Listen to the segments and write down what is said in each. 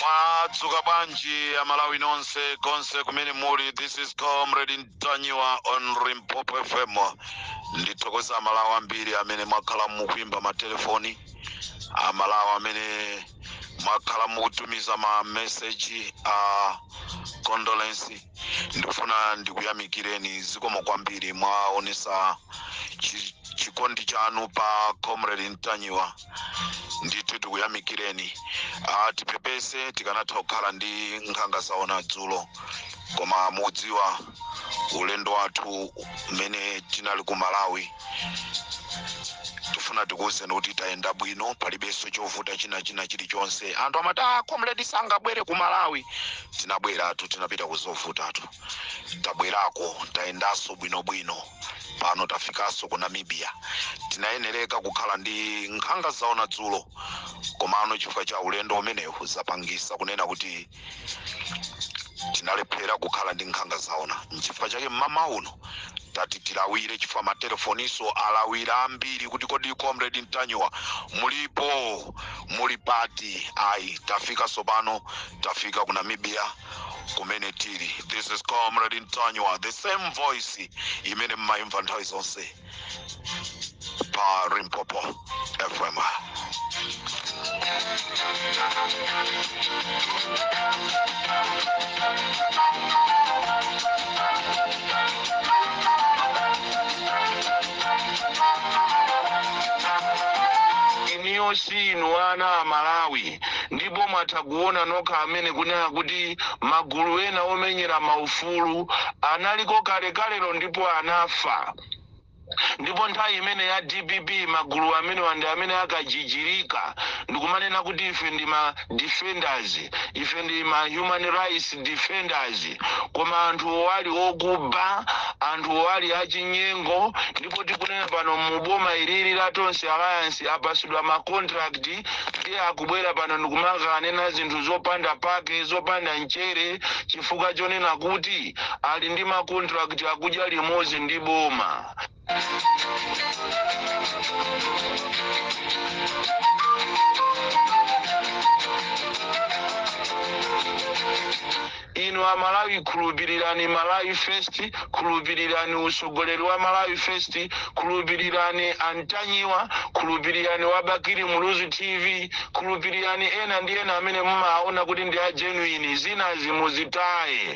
mwadzuka bwanji amalawi nonse konse kumene muli this is comrade ntanyiwa on limpopo fm ndithokoza amalawi ambiri amene mwakhala mukuimba matelefoni amalawi amene mwakhala mukutumiza ma message a condolence ndikufuna ndikuyamikireni zikomo kwambiri mwaonesa chikondi chanu pa comrade ntanyiwa ndithu tikuyamikireni ah, tipepese tikanatha kukhala ndi nkhanga zaona dzulo koma mudziwa ulendo wathu umene tinali ku malawi tifuna tikuwuzeni kuti tayenda bwino palibenso chovuta china china chilichonse anthu amati ah, comrade sangabwere ku malawi tinabweratu tinapita kuzovutatu tabwerako tayendanso bwinobwino pano tafikanso ku namibia tinayenereka kukhala ndi nkhanga zaona dzulo komano chifukwa cha ulendo umenewu zapangisa kunena kuti tinalephera kukhala ndi nkhanga zaona nchifukwa chake mmama uno tati tilawire chifukwa matelefoniso alawira ambiri kuti kodi comrade ntanyiwa mulipo muli pati ayi tafika sopano tafika ku namibia kumene tili this is comrade ntanyiwa the same voice imene mmayimva nthawi zonse pa Limpopo FM. inuyo si inu ana amalawi ndipo mwatha kuona nokha amene kunena kuti magulu ena omenyera maufulu analiko kalekalelo ndipo anafa ndipo nthawi imene ya dpp magulu amenewa ndi amene akajijirika ndikumanena kuti ife ndi ma defenders ife ndi ma human rights defenders koma anthuwo ali okuba anthuwo ali achinyengo ndipo tikunena pano mu boma ilili la tonse alliance apasidwa ma contract ndiye akubwera pano ndikumangonena zinthu zopanda pake zopanda mchere chifukwa chonena kuti ali ndi ma contract akudya limodzi ndi boma inu amalawi khulupirirani malawi first khulupirirani utsogoleri wa malawi first khulupirirani antanyiwa khulupirirani wa bakili muluzi tv khulupirirani ena ndi ena amene mumaona kuti ndi a genuine zinazi muzitaye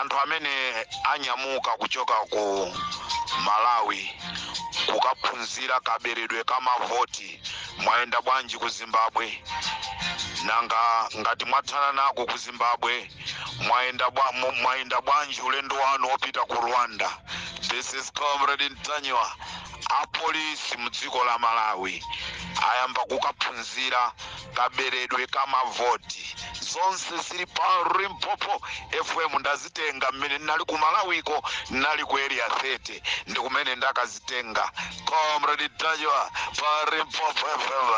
anthu amene anyamuka kuchoka ku malawi kukaphunzira kaberedwe ka mavoti mwayenda bwanji ku zimbabwe nanga ngati mwathana nako ku zimbabwe mwayenda bwanji ulendo wanu wopita ku rwanda this is comrade ntanyiwa apolisi mdziko la malawi ayamba kukaphunzira kaberedwe ka mavoti zonse zili pa limpopo fm ndazitenga mmene nali ku malawiko nali ku area 30 ndi kumene ndakazitenga comrade ntanyiwa pa limpopo fm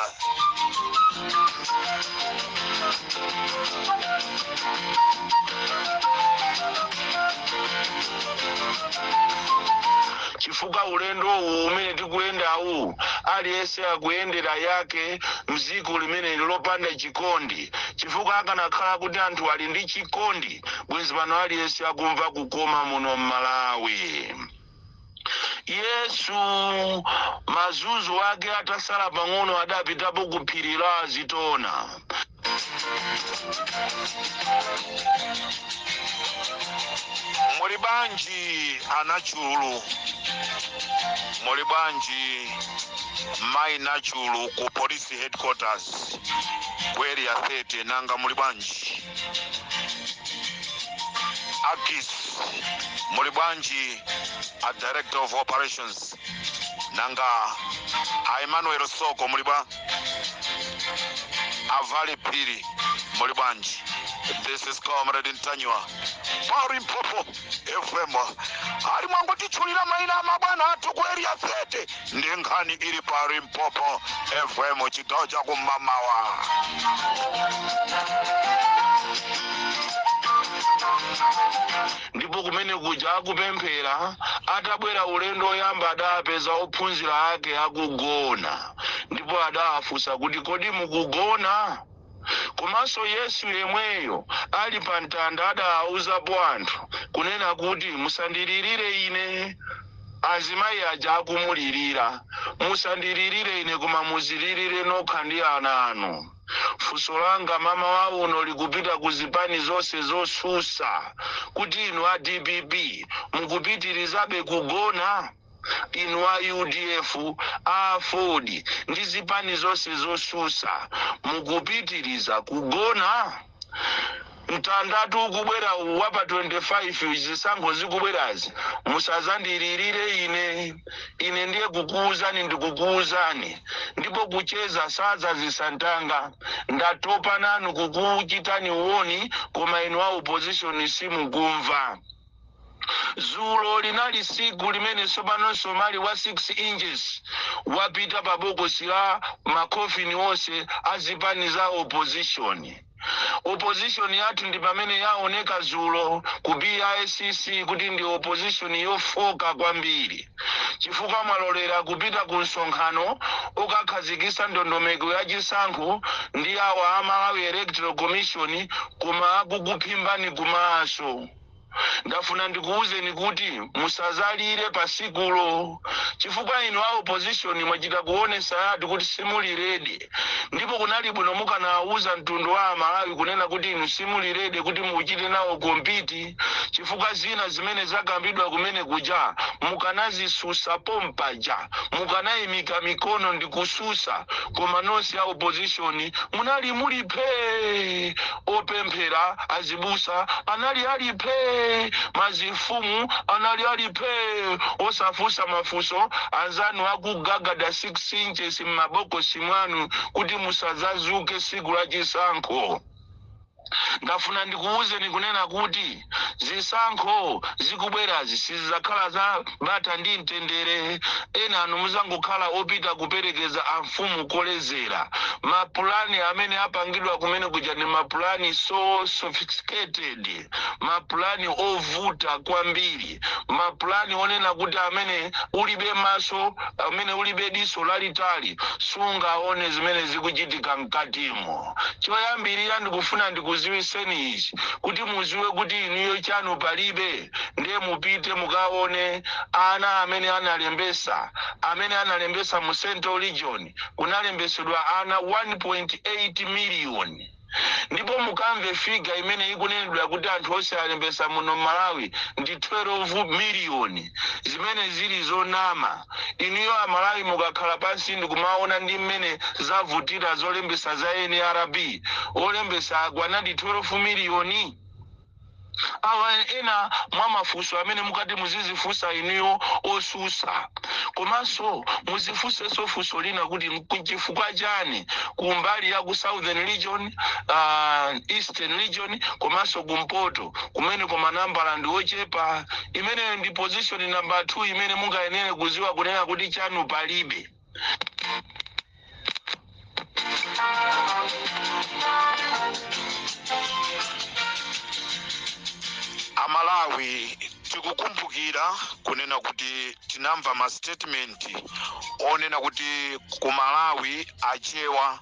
chifukwa ulendo uwu umene tikuyendawu aliyense Akuyendera yake m'dziko limeneli lopanda chikondi, chifukwa akanakhala kuti anthu ali ndi chikondi bwezi pano aliyense akumva kukoma muno m'Malawi. Yesu mazunzo ake atasala pang'ono adapitapo ku phiri la Azitona. muli bwanji anachulu muli bwanji mai nachulu ku police headquarters ku area 30 nanga muli bwanji akis muli bwanji a director of operations nanga a emmanuel soko muli bwa avali phiri muli bwanji this is comrade ntanyiwa pa limpopo fm ani mwangotitchulira maina a mabwana athu ku area 30 ndi nkhani ili pa limpopo fm chigawo cha kummawa ndipo kumene kuja akupemphera atabwera ulendo woyamba adapeza ophunzira ake akugona ndipo adawafunsa kuti, Kodi mukugona? Komanso Yesu yemweyo ali pa mtanda adawauzapo anthu kunena kuti, Musandilirire ine. Azimayi aja akumulirira, musandilirire ine koma muzilirire nokha ndi ana anu. Funso langa mmawa uno likupita ku zipani zonse zotsutsa kuti inu a dpp mukupitirizabe kugona? Inu a udf, a aford ndi zipani zonse zosusa mukupitiliza kugona? Mtandatu ukubwera uwu wa pa 25 uyu zisankho zikubwerazi musazandilirire ine. Ine ndiye kukuuzani ndikukuuzani ndipo kucheza sadzazisa mtanga. Ndatopa nanu kukuchitani warn koma inu a opposition simukumva. Zulo linali siku limene sopano msomali wa 6 inches wapita pa bokosi la ma coffin onse a zipani za opposition. Opposition yathu ndi pamene yaoneka zulo ku BICC kuti ndi opposition yofoka kwambiri chifukwa mwalolera kupita ku msonkhano okakhazikisa ndondomeko ya chisankho ndi awa a Malawi Electoral Commission koma akukuphimbani kumaso. ndafuna ndikuwuzeni kuti musazalire pa sikulo chifukwa inu a opposition mwachita kuonesa yatu kuti simuli ready ndipo kunali bwino mukanawuza mtundu wa amalawi kunena kuti inu simuli ready kuti muchite nawo kompiti chifukwa zina zimene zakambidwa kumene kuja mukanazisusa pompaja mukanayimika mikono ndi kususa koma nonse a opposition munali muli phee opemphera, azibusa anali ali phee, mazifumu anali ali phee osafunsa mafunso, anzanu akugagada 6 inches mmabokosi mwanu kuti musazazuke tsiku la chisankho. Ndafuna ndikuwuzeni kunena kuti. zisankho zikubwerazi sizizakhala za bata ndi mtendere enanu muzangokhala opita kuperekeza amfumu kolezera mapulani amene apangidwa kumene kuja ndi mapulani so sophisticated mapulani ovuta kwambiri mapulani onena kuti amene ulibe maso amene ulibe diso lalitali sungaone zimene zikuchitika mkatimo choyambirira ndikufuna ndikuziwiseni ichi kuti muziwe kuti inuyo chanu palibe ndiye mupite mukaone ana amene analembesa amene analembesa mu central region kunalembesedwa ana 1.8 miliyoni ndipo mukamve figure imene ikunenedwa kuti anthu onse alembesa muno m'Malawi ndi 12 million zimene zili zonama inuyo amalawi mukakhala pansi ndikumaona ndi mmene zavutira zolembesa za nrb olembesa akwanadi 12 million Awa ena mwa mafunso amene mukati muzizifunsa inuyo osusa. Komanso muzifunsenso funso lina kuti nchifukwa chani ku mbali ya ku southern region, uh, eastern region komanso kumpoto kumeneko manambala ndi ochepa? Imene ndi position number 2 imene mungayenere kuziwa kunena kuti chanu palibe. amalawi tikukumbukira kunena kuti tinamva ma statement onena kuti ku malawi achewa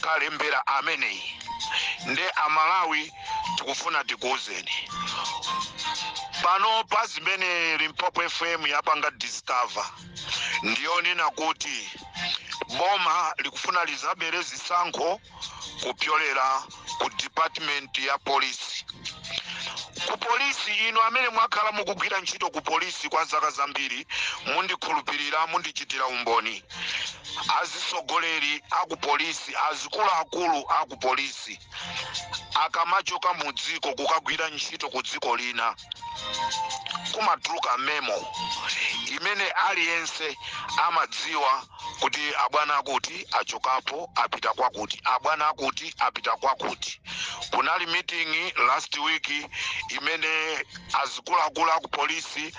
kalembera ameneyi nde amalawi tikufuna tikuwuzeni pano pa zimene limpopo fm yapanga discover ndiyonena kuti boma likufuna lizabere zisankho kupyolera ku department ya polisi ku polisi inu amene mwakhala mukugwira ntchito ku polisi kwa zaka zambiri mundikhulupirira mundichitira umboni azisogoleri aku polisi azikuluakulu aku polisi akamachoka mu dziko kukagwira ntchito ku dziko lina kumatuluka memo imene aliyense amadziwa kuti abwana akuti achokapo apita kwakuti, abwana akuti apita kwakuti. Kunali meeting last week imene azikuluakulu aku polisi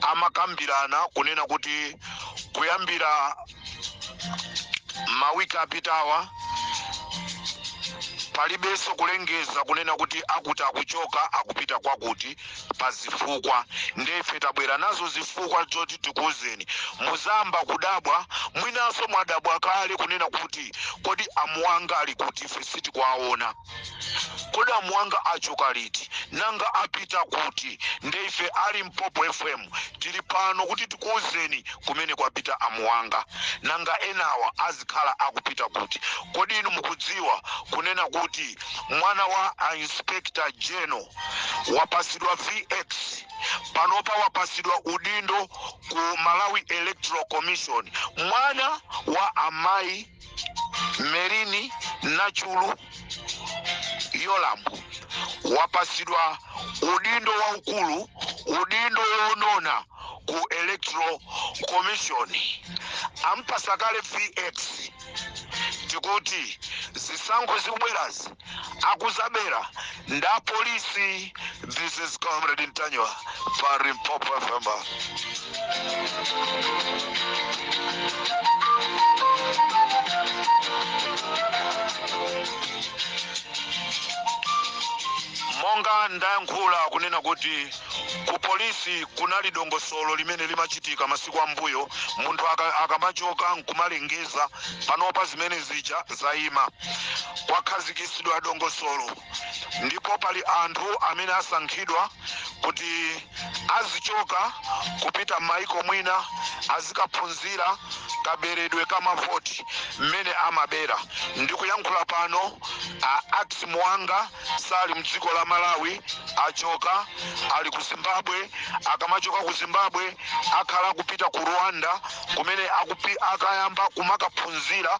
amakambirana kunena kuti kuyambira mawiki apitawa palibenso kulengeza kunena kuti akuti akuchoka akupita kwakuti. pa zifukwa nde ife tabwera nazo zifukwa zoti tikuuzeni muzayamba kudabwa mwinanso mwadabwa kale kunena kuti kodi amuwanga ali kuti ife sitikuwaona kodi amuwanga achoka liti nanga apita kuti nde ife a limpopo fm tili pano kuti tikuuzeni kumene kwapita amuwanga nanga enawa azikhala akupita kuti kodi inu mukudziwa kunena kuti mwana wa a inspector general wapasidwa vx panopa wapasidwa udindo ku malawi electoral commission mwana wa amayi merlyne nachulu yolamu wapasidwa udindo waukulu udindo wonona ku electoral commission ampasa kale vx tikuti zisankho zikubwerazi akuzabera nda polisi this is comrade ntanyiwa pa limpopo fm monga ndayankhula kunena kuti ku polisi kunali dongosolo limene limachitika masiku ambuyo munthu aka- akamachoka nkumalengeza panopa zimene zija zayima kwakhazikitsidwa dongosolo ndipo pali anthu amene asankhidwa kuti azichoka kupita m'mayiko mwina azikaphunzira kaberedwe ka mavoti mmene amabera ndikuyankhula pano a ax muwanga sali mdziko la malawi achoka ali ku zimbabwe akamachoka ku zimbabwe akhala kupita ku rwanda kumene akayamba kumakaphunzira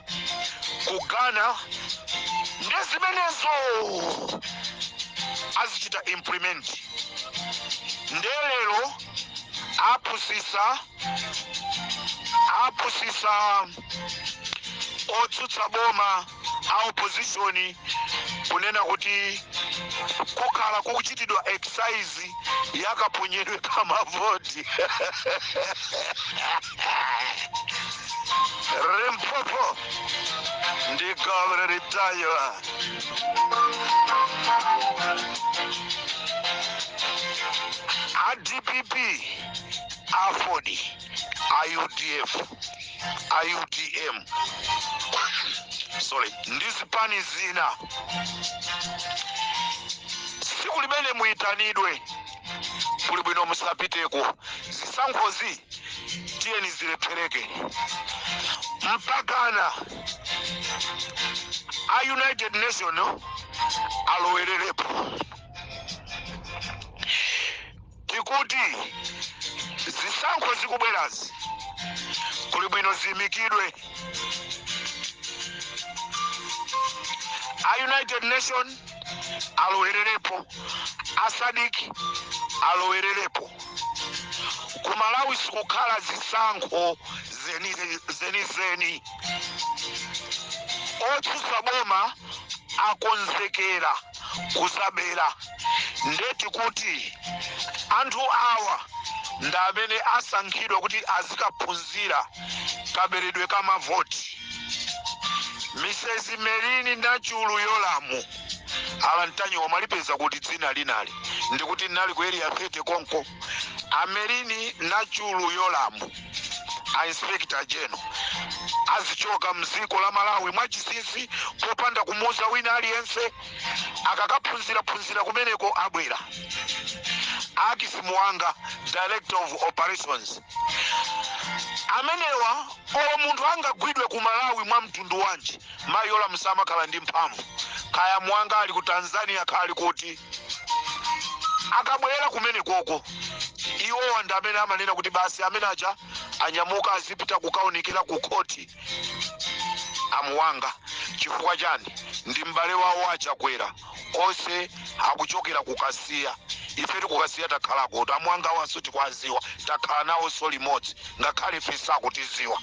ku ghana ndi zimenezo azichita implement nde lero apusisa apusisa otsutsa boma a opposition kunena kuti kukhala kukuchitidwa exercise yakaponyedwe kamavoti limpopo ndi galu lelitayo a dpp aford a udf a utm sorry ndi zipani zina tsiku limene muyitanidwe kuli bwino musapiteko zisankhozi tiyeni zilephereke mpakana a united nation alowererepo tikuti zisankho zikubwerazi kuli bwino ziyimikidwe a united nation alowererepo a sadc alowererepo ku malawi sikukhala zisankho zenizeni otsutsa boma akonzekera kuzabera ndeti kuti anthu awa nda amene asankhidwa kuti azikaphunzira kaberedwe ka mavoti mrs merlyne nachulu yolamu ala mtanyiwa mwalipeza kuti dzina linali ndikuti nali ku area 30 konko a merlyne nachulu yolamu a inspector general azichoka mziko la malawi mwachinsinsi popanda kumuza wina aliyense akakaphunzira phunzira kumeneko abwera akis muwanga director of operations amenewa olo munthu angagwidwe ku malawi mwa mtundu wanji mayi yolamu samakhala ndi mphamvu kaya muwanga ali ku tanzania kaya ali kuti akabwera kumenekoko iwowa ndi amene amanena kuti basi amene aja anyamuka azipita kukaonekera ku khoti amuwanga chifukwa chani ndi m'bale wawo achakwera onse akuchokera kukasiya ifetu kukasiya takhalakotu amuwangawonso tikwaziwa takhala nawonso limodzi ngakhale ife sakutiziwa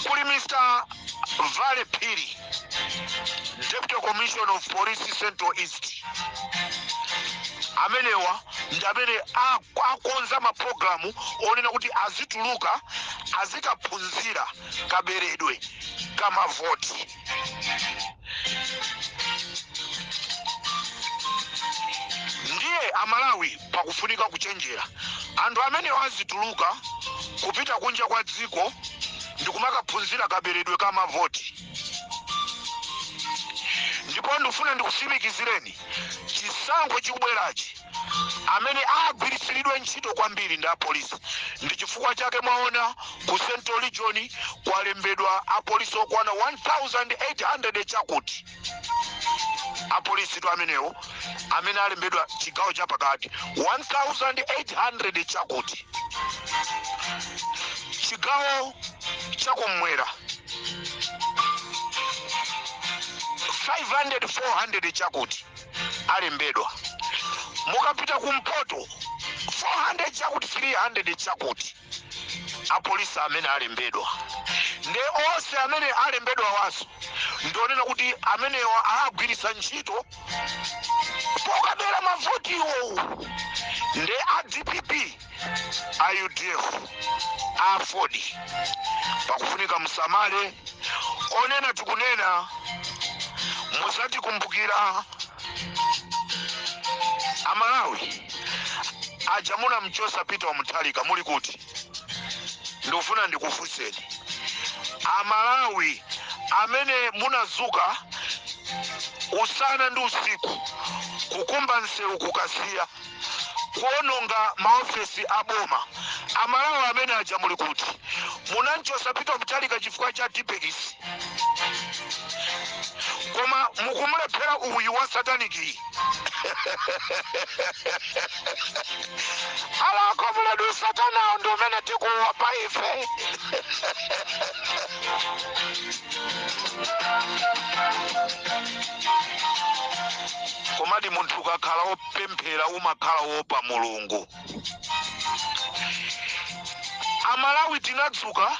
kuli mr vale phiri deputy commissioner of police central east amenewa ndi amene ak- akonza mapulogalamu onena kuti azituluka azikaphunzira kaberedwe kamavoti ndiye amalawi pakufunika kuchenjera anthu amenewa azituluka kupita kunja kwa dziko ndikumakaphunzira kaberedwe ka mavoti ndipo ndifuna ndikusimikizireni chisankho chikubwerachi amene agwiritsiridwe ntchito kwambiri ndi apolisi. Ndi chifukwa chake mwaona, ku Central Region kwalembedwa apolisi okwana 1800 chakuti. Apolisitu amenewo amene alembedwa chigawo chapakati 1800 chakuti chigawo chakumwera 500 400 chakuti alembedwa mukapita kumpoto 400 chakuti 300 chakuti apolisi amene alembedwa nde onse amene alembedwawanso ndi onena kuti amenewa agwiritsa ntchito pokabera mavoti iwowo nde a dpp a udf a aford pakufunika musamale onena tikunena muzatikumbukira amalawi aja munamchosa peter wa mutharika muli kuti ndikufuna ndikufunseni amalawi amene munazuka usana ndi usiku kukumba nsewu kukasiya kuononga ma ofesi a boma amalawi amene aja muli kuti munanchosa pita mutharika chifukwa cha tipekisi koma mukumulephera uyu wa sataniki alako muledu satanawo ndi umene tikuwopa ife komadi munthu ukakhala wopemphera umakhala wopa mulungu amalawi tinadzuka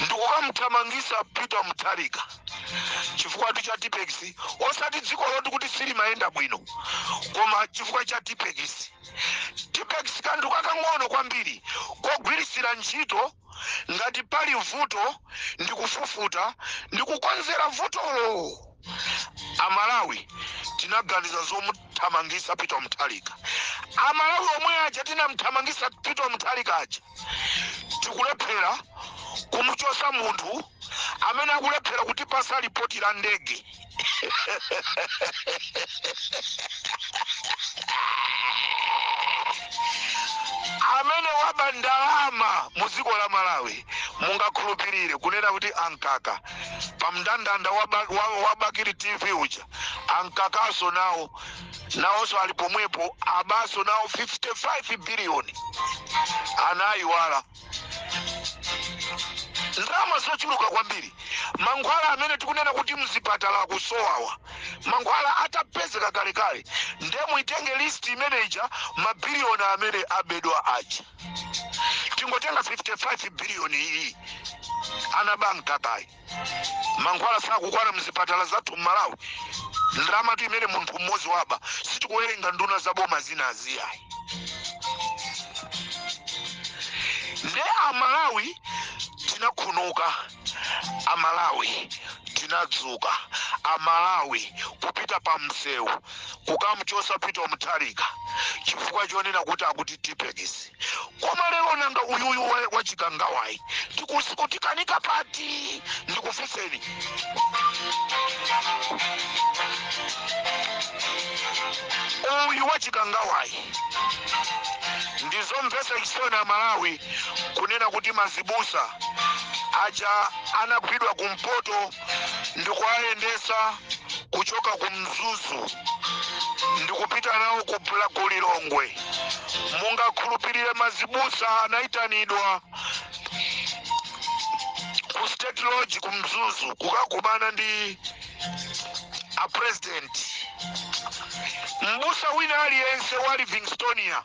ndikukamthamangisa peter mutharika chifukwa tu cha tipex osati dziko loti kuti silimayenda bwino koma chifukwa cha tipex tipex kanthu kakang'ono kwambiri kogwirisira ntchito Ngati pali vuto ndi kufufuta ndi kukonzera vutolo. A Malawi tinaganiza zomuthamangisa Peter Mutharika. A Malawi omwe aja tinamuthamangisa Peter Mutharika aja tikulephera kumuchosa munthu amene akulephera kutipasa lipoti la ndege. amene waba ndalama mu dziko la malawi mungakhulupirire kunena kuti ankhakha pa mndandanda wa ba- wa- wa bakili tv uja ankhakhanso nawo nawonso ali pomwepo abaso nawo 55 biliyoni anayiwala ndalama zochuluka kwambiri mankhwala amene tikunena kuti mzipatala akusowawa mankhwala atapezeka kalekale nde muitenge list imene ija mabiliyoni amene abedwa aja tingotenga 55 biliyoni iyi anaba nkhakhayi mankhwala sakukwana mzipatala zathu mmalawi ndramatu imene munthu mmodzi waba sitikuwerenga nduna za boma zina azi ayi nde amalawi tinakhamuka amalawi tinadzuka amalawi kupita pa msewu kukamchosa pita mutharika chifukwa chonena kuti akuti tipekisi koma lero nanga uyuyu wa- wachikangawayi zikuti- kutikanika pati ndikufuseni uyu wachikangawayi ndizomvesa chisoni a malawi kunena kuti mazibusa aja anagwidwa kumpoto ndikuwayendetsa kuchoka ku mzuzu ndikupita nawo ku Bla- ku lilongwe mungakhulupirire mazibusa anayitanidwa ku state lodge ku mzuzu kukakumana ndi a president mbusa wina aliyense wa livingstonia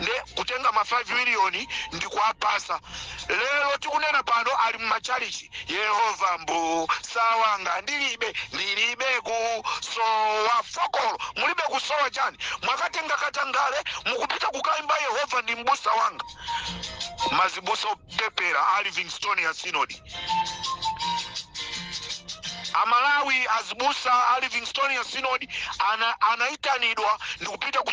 nde kutenga ma 5 million ndikuwapasa lero tikunena pano ali mmachalichi yehova mbusa wanga ndilibe ndilibe kusowa fokolo mulibe kusowa chani mwakatenga katangale mukupita kukaimba yehova ndi mbusa wanga mazibusa opepera a livingstonia synod amalawi azibusa a livingstonia synod ana- anaitanidwa ndikupita ku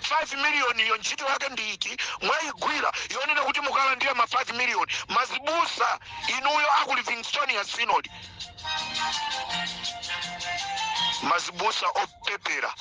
5 million yo ntchito yake ndi iti mwaigwira yonena kuti mukalandira ma 5 million mazibusa inuyo aku livingstonia synod mazibusa opepera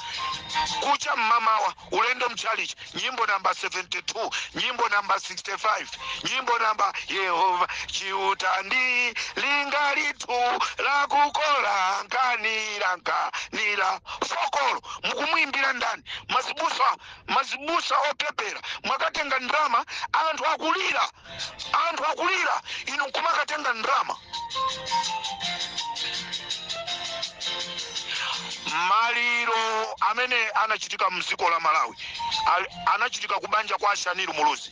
kucha mmamawa ulendo mchalichi nyimbo namba 72 nyimbo namba 65 nyimbo namba yehova chiuta ndi linga lithu lakukola nkanira nkanira fokolo mukumuimbira ndani mazibusa mazibusa opepera mwakatenga ndrama anthu akulira anthu akulira inu nkumakatenga ndrama maliro amene anachitika mdziko la malawi al- anachitika kubanja kwa a Shaniru muluzi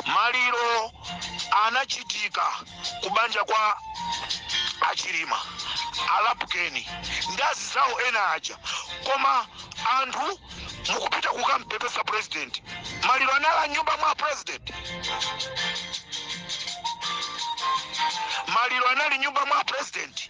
maliro anachitika kubanja kwa achilima a Lapukeni ndi anzawo ena aja koma anthu mukupita kukampepesa president maliro anali mnyumba mwa president maliro anali mnyumba mwa president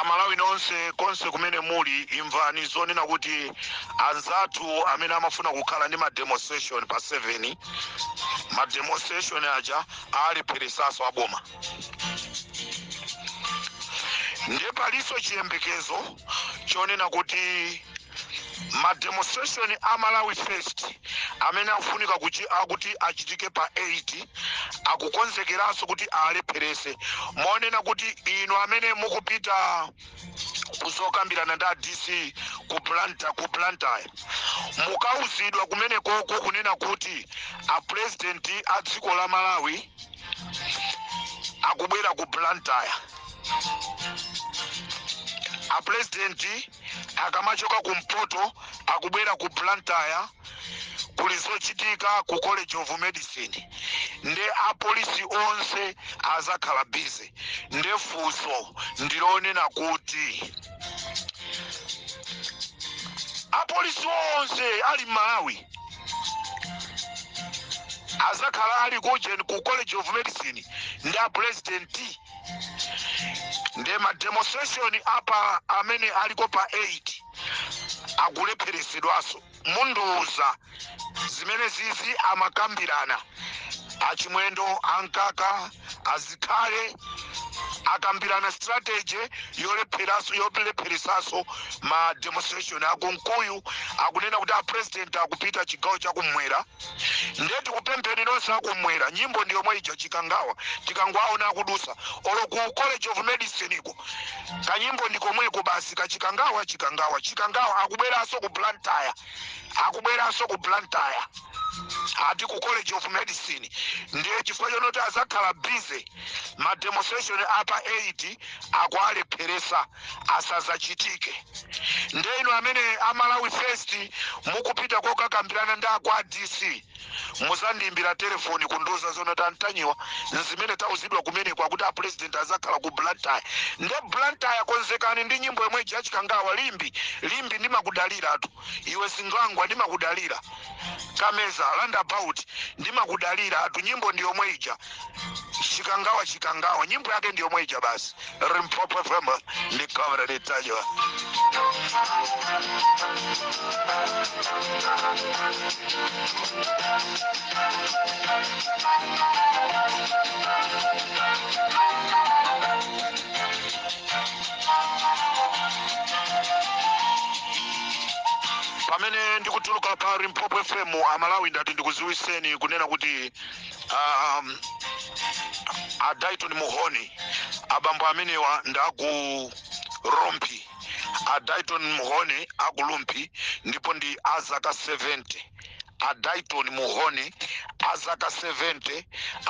amalawi nonse konse kumene muli imvani zonena kuti anzathu amene amafuna kukhala ndi mademonstration pa 7 mademonstration aja alepheretsanso aboma nde palinso chiyembekezo chonena kuti ma demonstration a malawi first amene akufunika kuchi- akuti achitike pa 8 akukonzekeranso kuti alepheretse monena kuti inu amene mukupita kuzokambirana ndi a dc ku blantyre mukauzidwa kumenekoko kunena kuti a president a dziko la malawi akubwera ku blantyre a president akamachoka ku mpoto akubwera ku blantyre kuli zochitika ku college of medicine nde apolisi onse azakhala busy nde funso ndilonena kuti apolisi onse ali m'malawi azakhala ali kujeni ku college of medicine ndi a president nde ma demonstration apa amene aliko pa 8 akulepheresedwaso mundiuza zimene zizi amakambirana a chimwendo a mkaka a zikhale akambirana strategy yolepheraso yolepheresaso ma demonstration a kunkuyu akunena kuti a president akupita chigawo chakumwera nde tikupempheni nonse akumwera nyimbo ndi yomwe ija chikangawa tikangowaona akudusa olo ku college of medicine ko kanyimbo ndi komweko basi ka chikangawa chikangawa chikangawa akubweranso ku blantyre akubweranso ku blantyre ati ku college of medicine ndiye chifukwa chonoti azakhala busy ma demonstration apa 8 akualepheresa asazachitike nde inu amene a malawi first mukupita kokakambirana ndi akwa dc muzandiimbira telefoni kundiuza zonoti a ntanyiwa nzimene tauzidwa kumeneko akuti a president azakhala ku blantyre nde blantyre konzekani ndi nyimbo yomwe ija chikangawa limbe limbe ndimakudaliratu iwe zingwangwa ndimakudalira kameza roundabout ndimakudaliratu nyimbo ndi yomwe ija chikangawa chikangawa nyimbo yake ndi yomwe ija basi limpopo fm ndi comrade ntanyiwa pamene ndikutuluka pa limpopo fm amalawi ndati ndikuziwiseni kunena kuti um, a dayton mhone abambo amenewa ndaku rumphi a dayton mhone aku rumphi ndipo ndi azaka 70 a dayton mhone azaka 70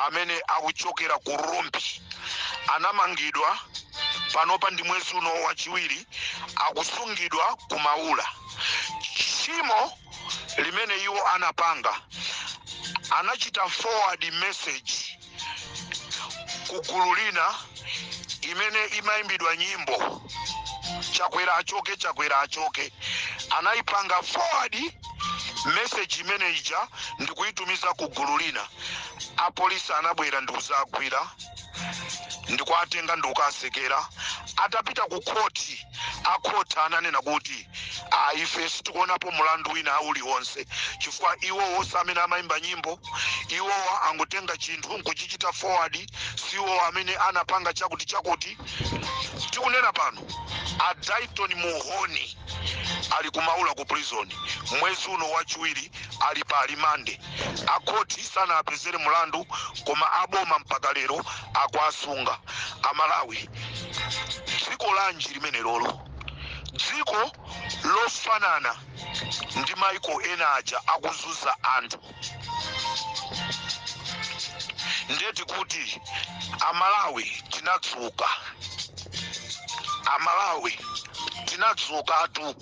amene akuchokera ku rumphi anamangidwa panopa ndi mwezi uno wachiwiri akusungidwa ku maula tchimo limene iwo anapanga, anachita forward message ku gulu lina imene imayimbidwa nyimbo chakwera achoke chakwera achoke anayipanga forward message imene ija ndikuyitumiza ku gulu lina apolisi anabwera ndikuzagwira ndikuwatenga ndikukawasekera atapita ku khoti akhoti ananena kuti ayi ife sitikuonapo mulandu wina uliwonse chifukwa iwowo si amene amayimba nyimbo iwowo angotenga chinthu nkuchichita forward si iwowo amene anapanga chakuti chakuti tikunena pano a dayton muhoni ali kumaula ku prison mwezi uno wachiwiri ali pa limande akhothi sanawapezere mulandu koma aboma mpaka lero akuwasunga amalawi dziko lanji limenelolo dziko lofanana ndi maiko ena aja akuzuza anthu nde tikuti amalawi tinatsuka amalawi tinatsukatu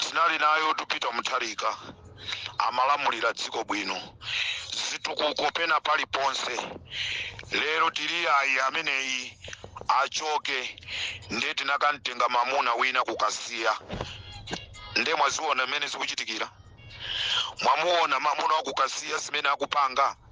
tinali naye Pita mutharika amalamulira dziko bwino zitukuko pena paliponse lero tili ayi ameneyi achoke ndiye tinakamtenga mamuna wina ku Kasiya ndiye mwaziona mmene zikuchitikira mwamuona mamuna waku Kasiya zimene akupanga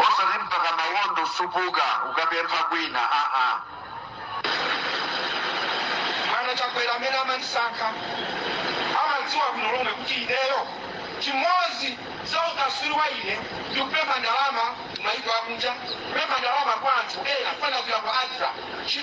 osati mpaka mawondo kusupuka ukapempha kwina aa bwana chakwera amene amandisankha amadziwa bwino lomwe kuti ineyo chimodzi za ukaswiri wa ine ndi kupempha ndalama maiko akunja kupempha ndalama kwa anthu ena kufanana kuya kwa adra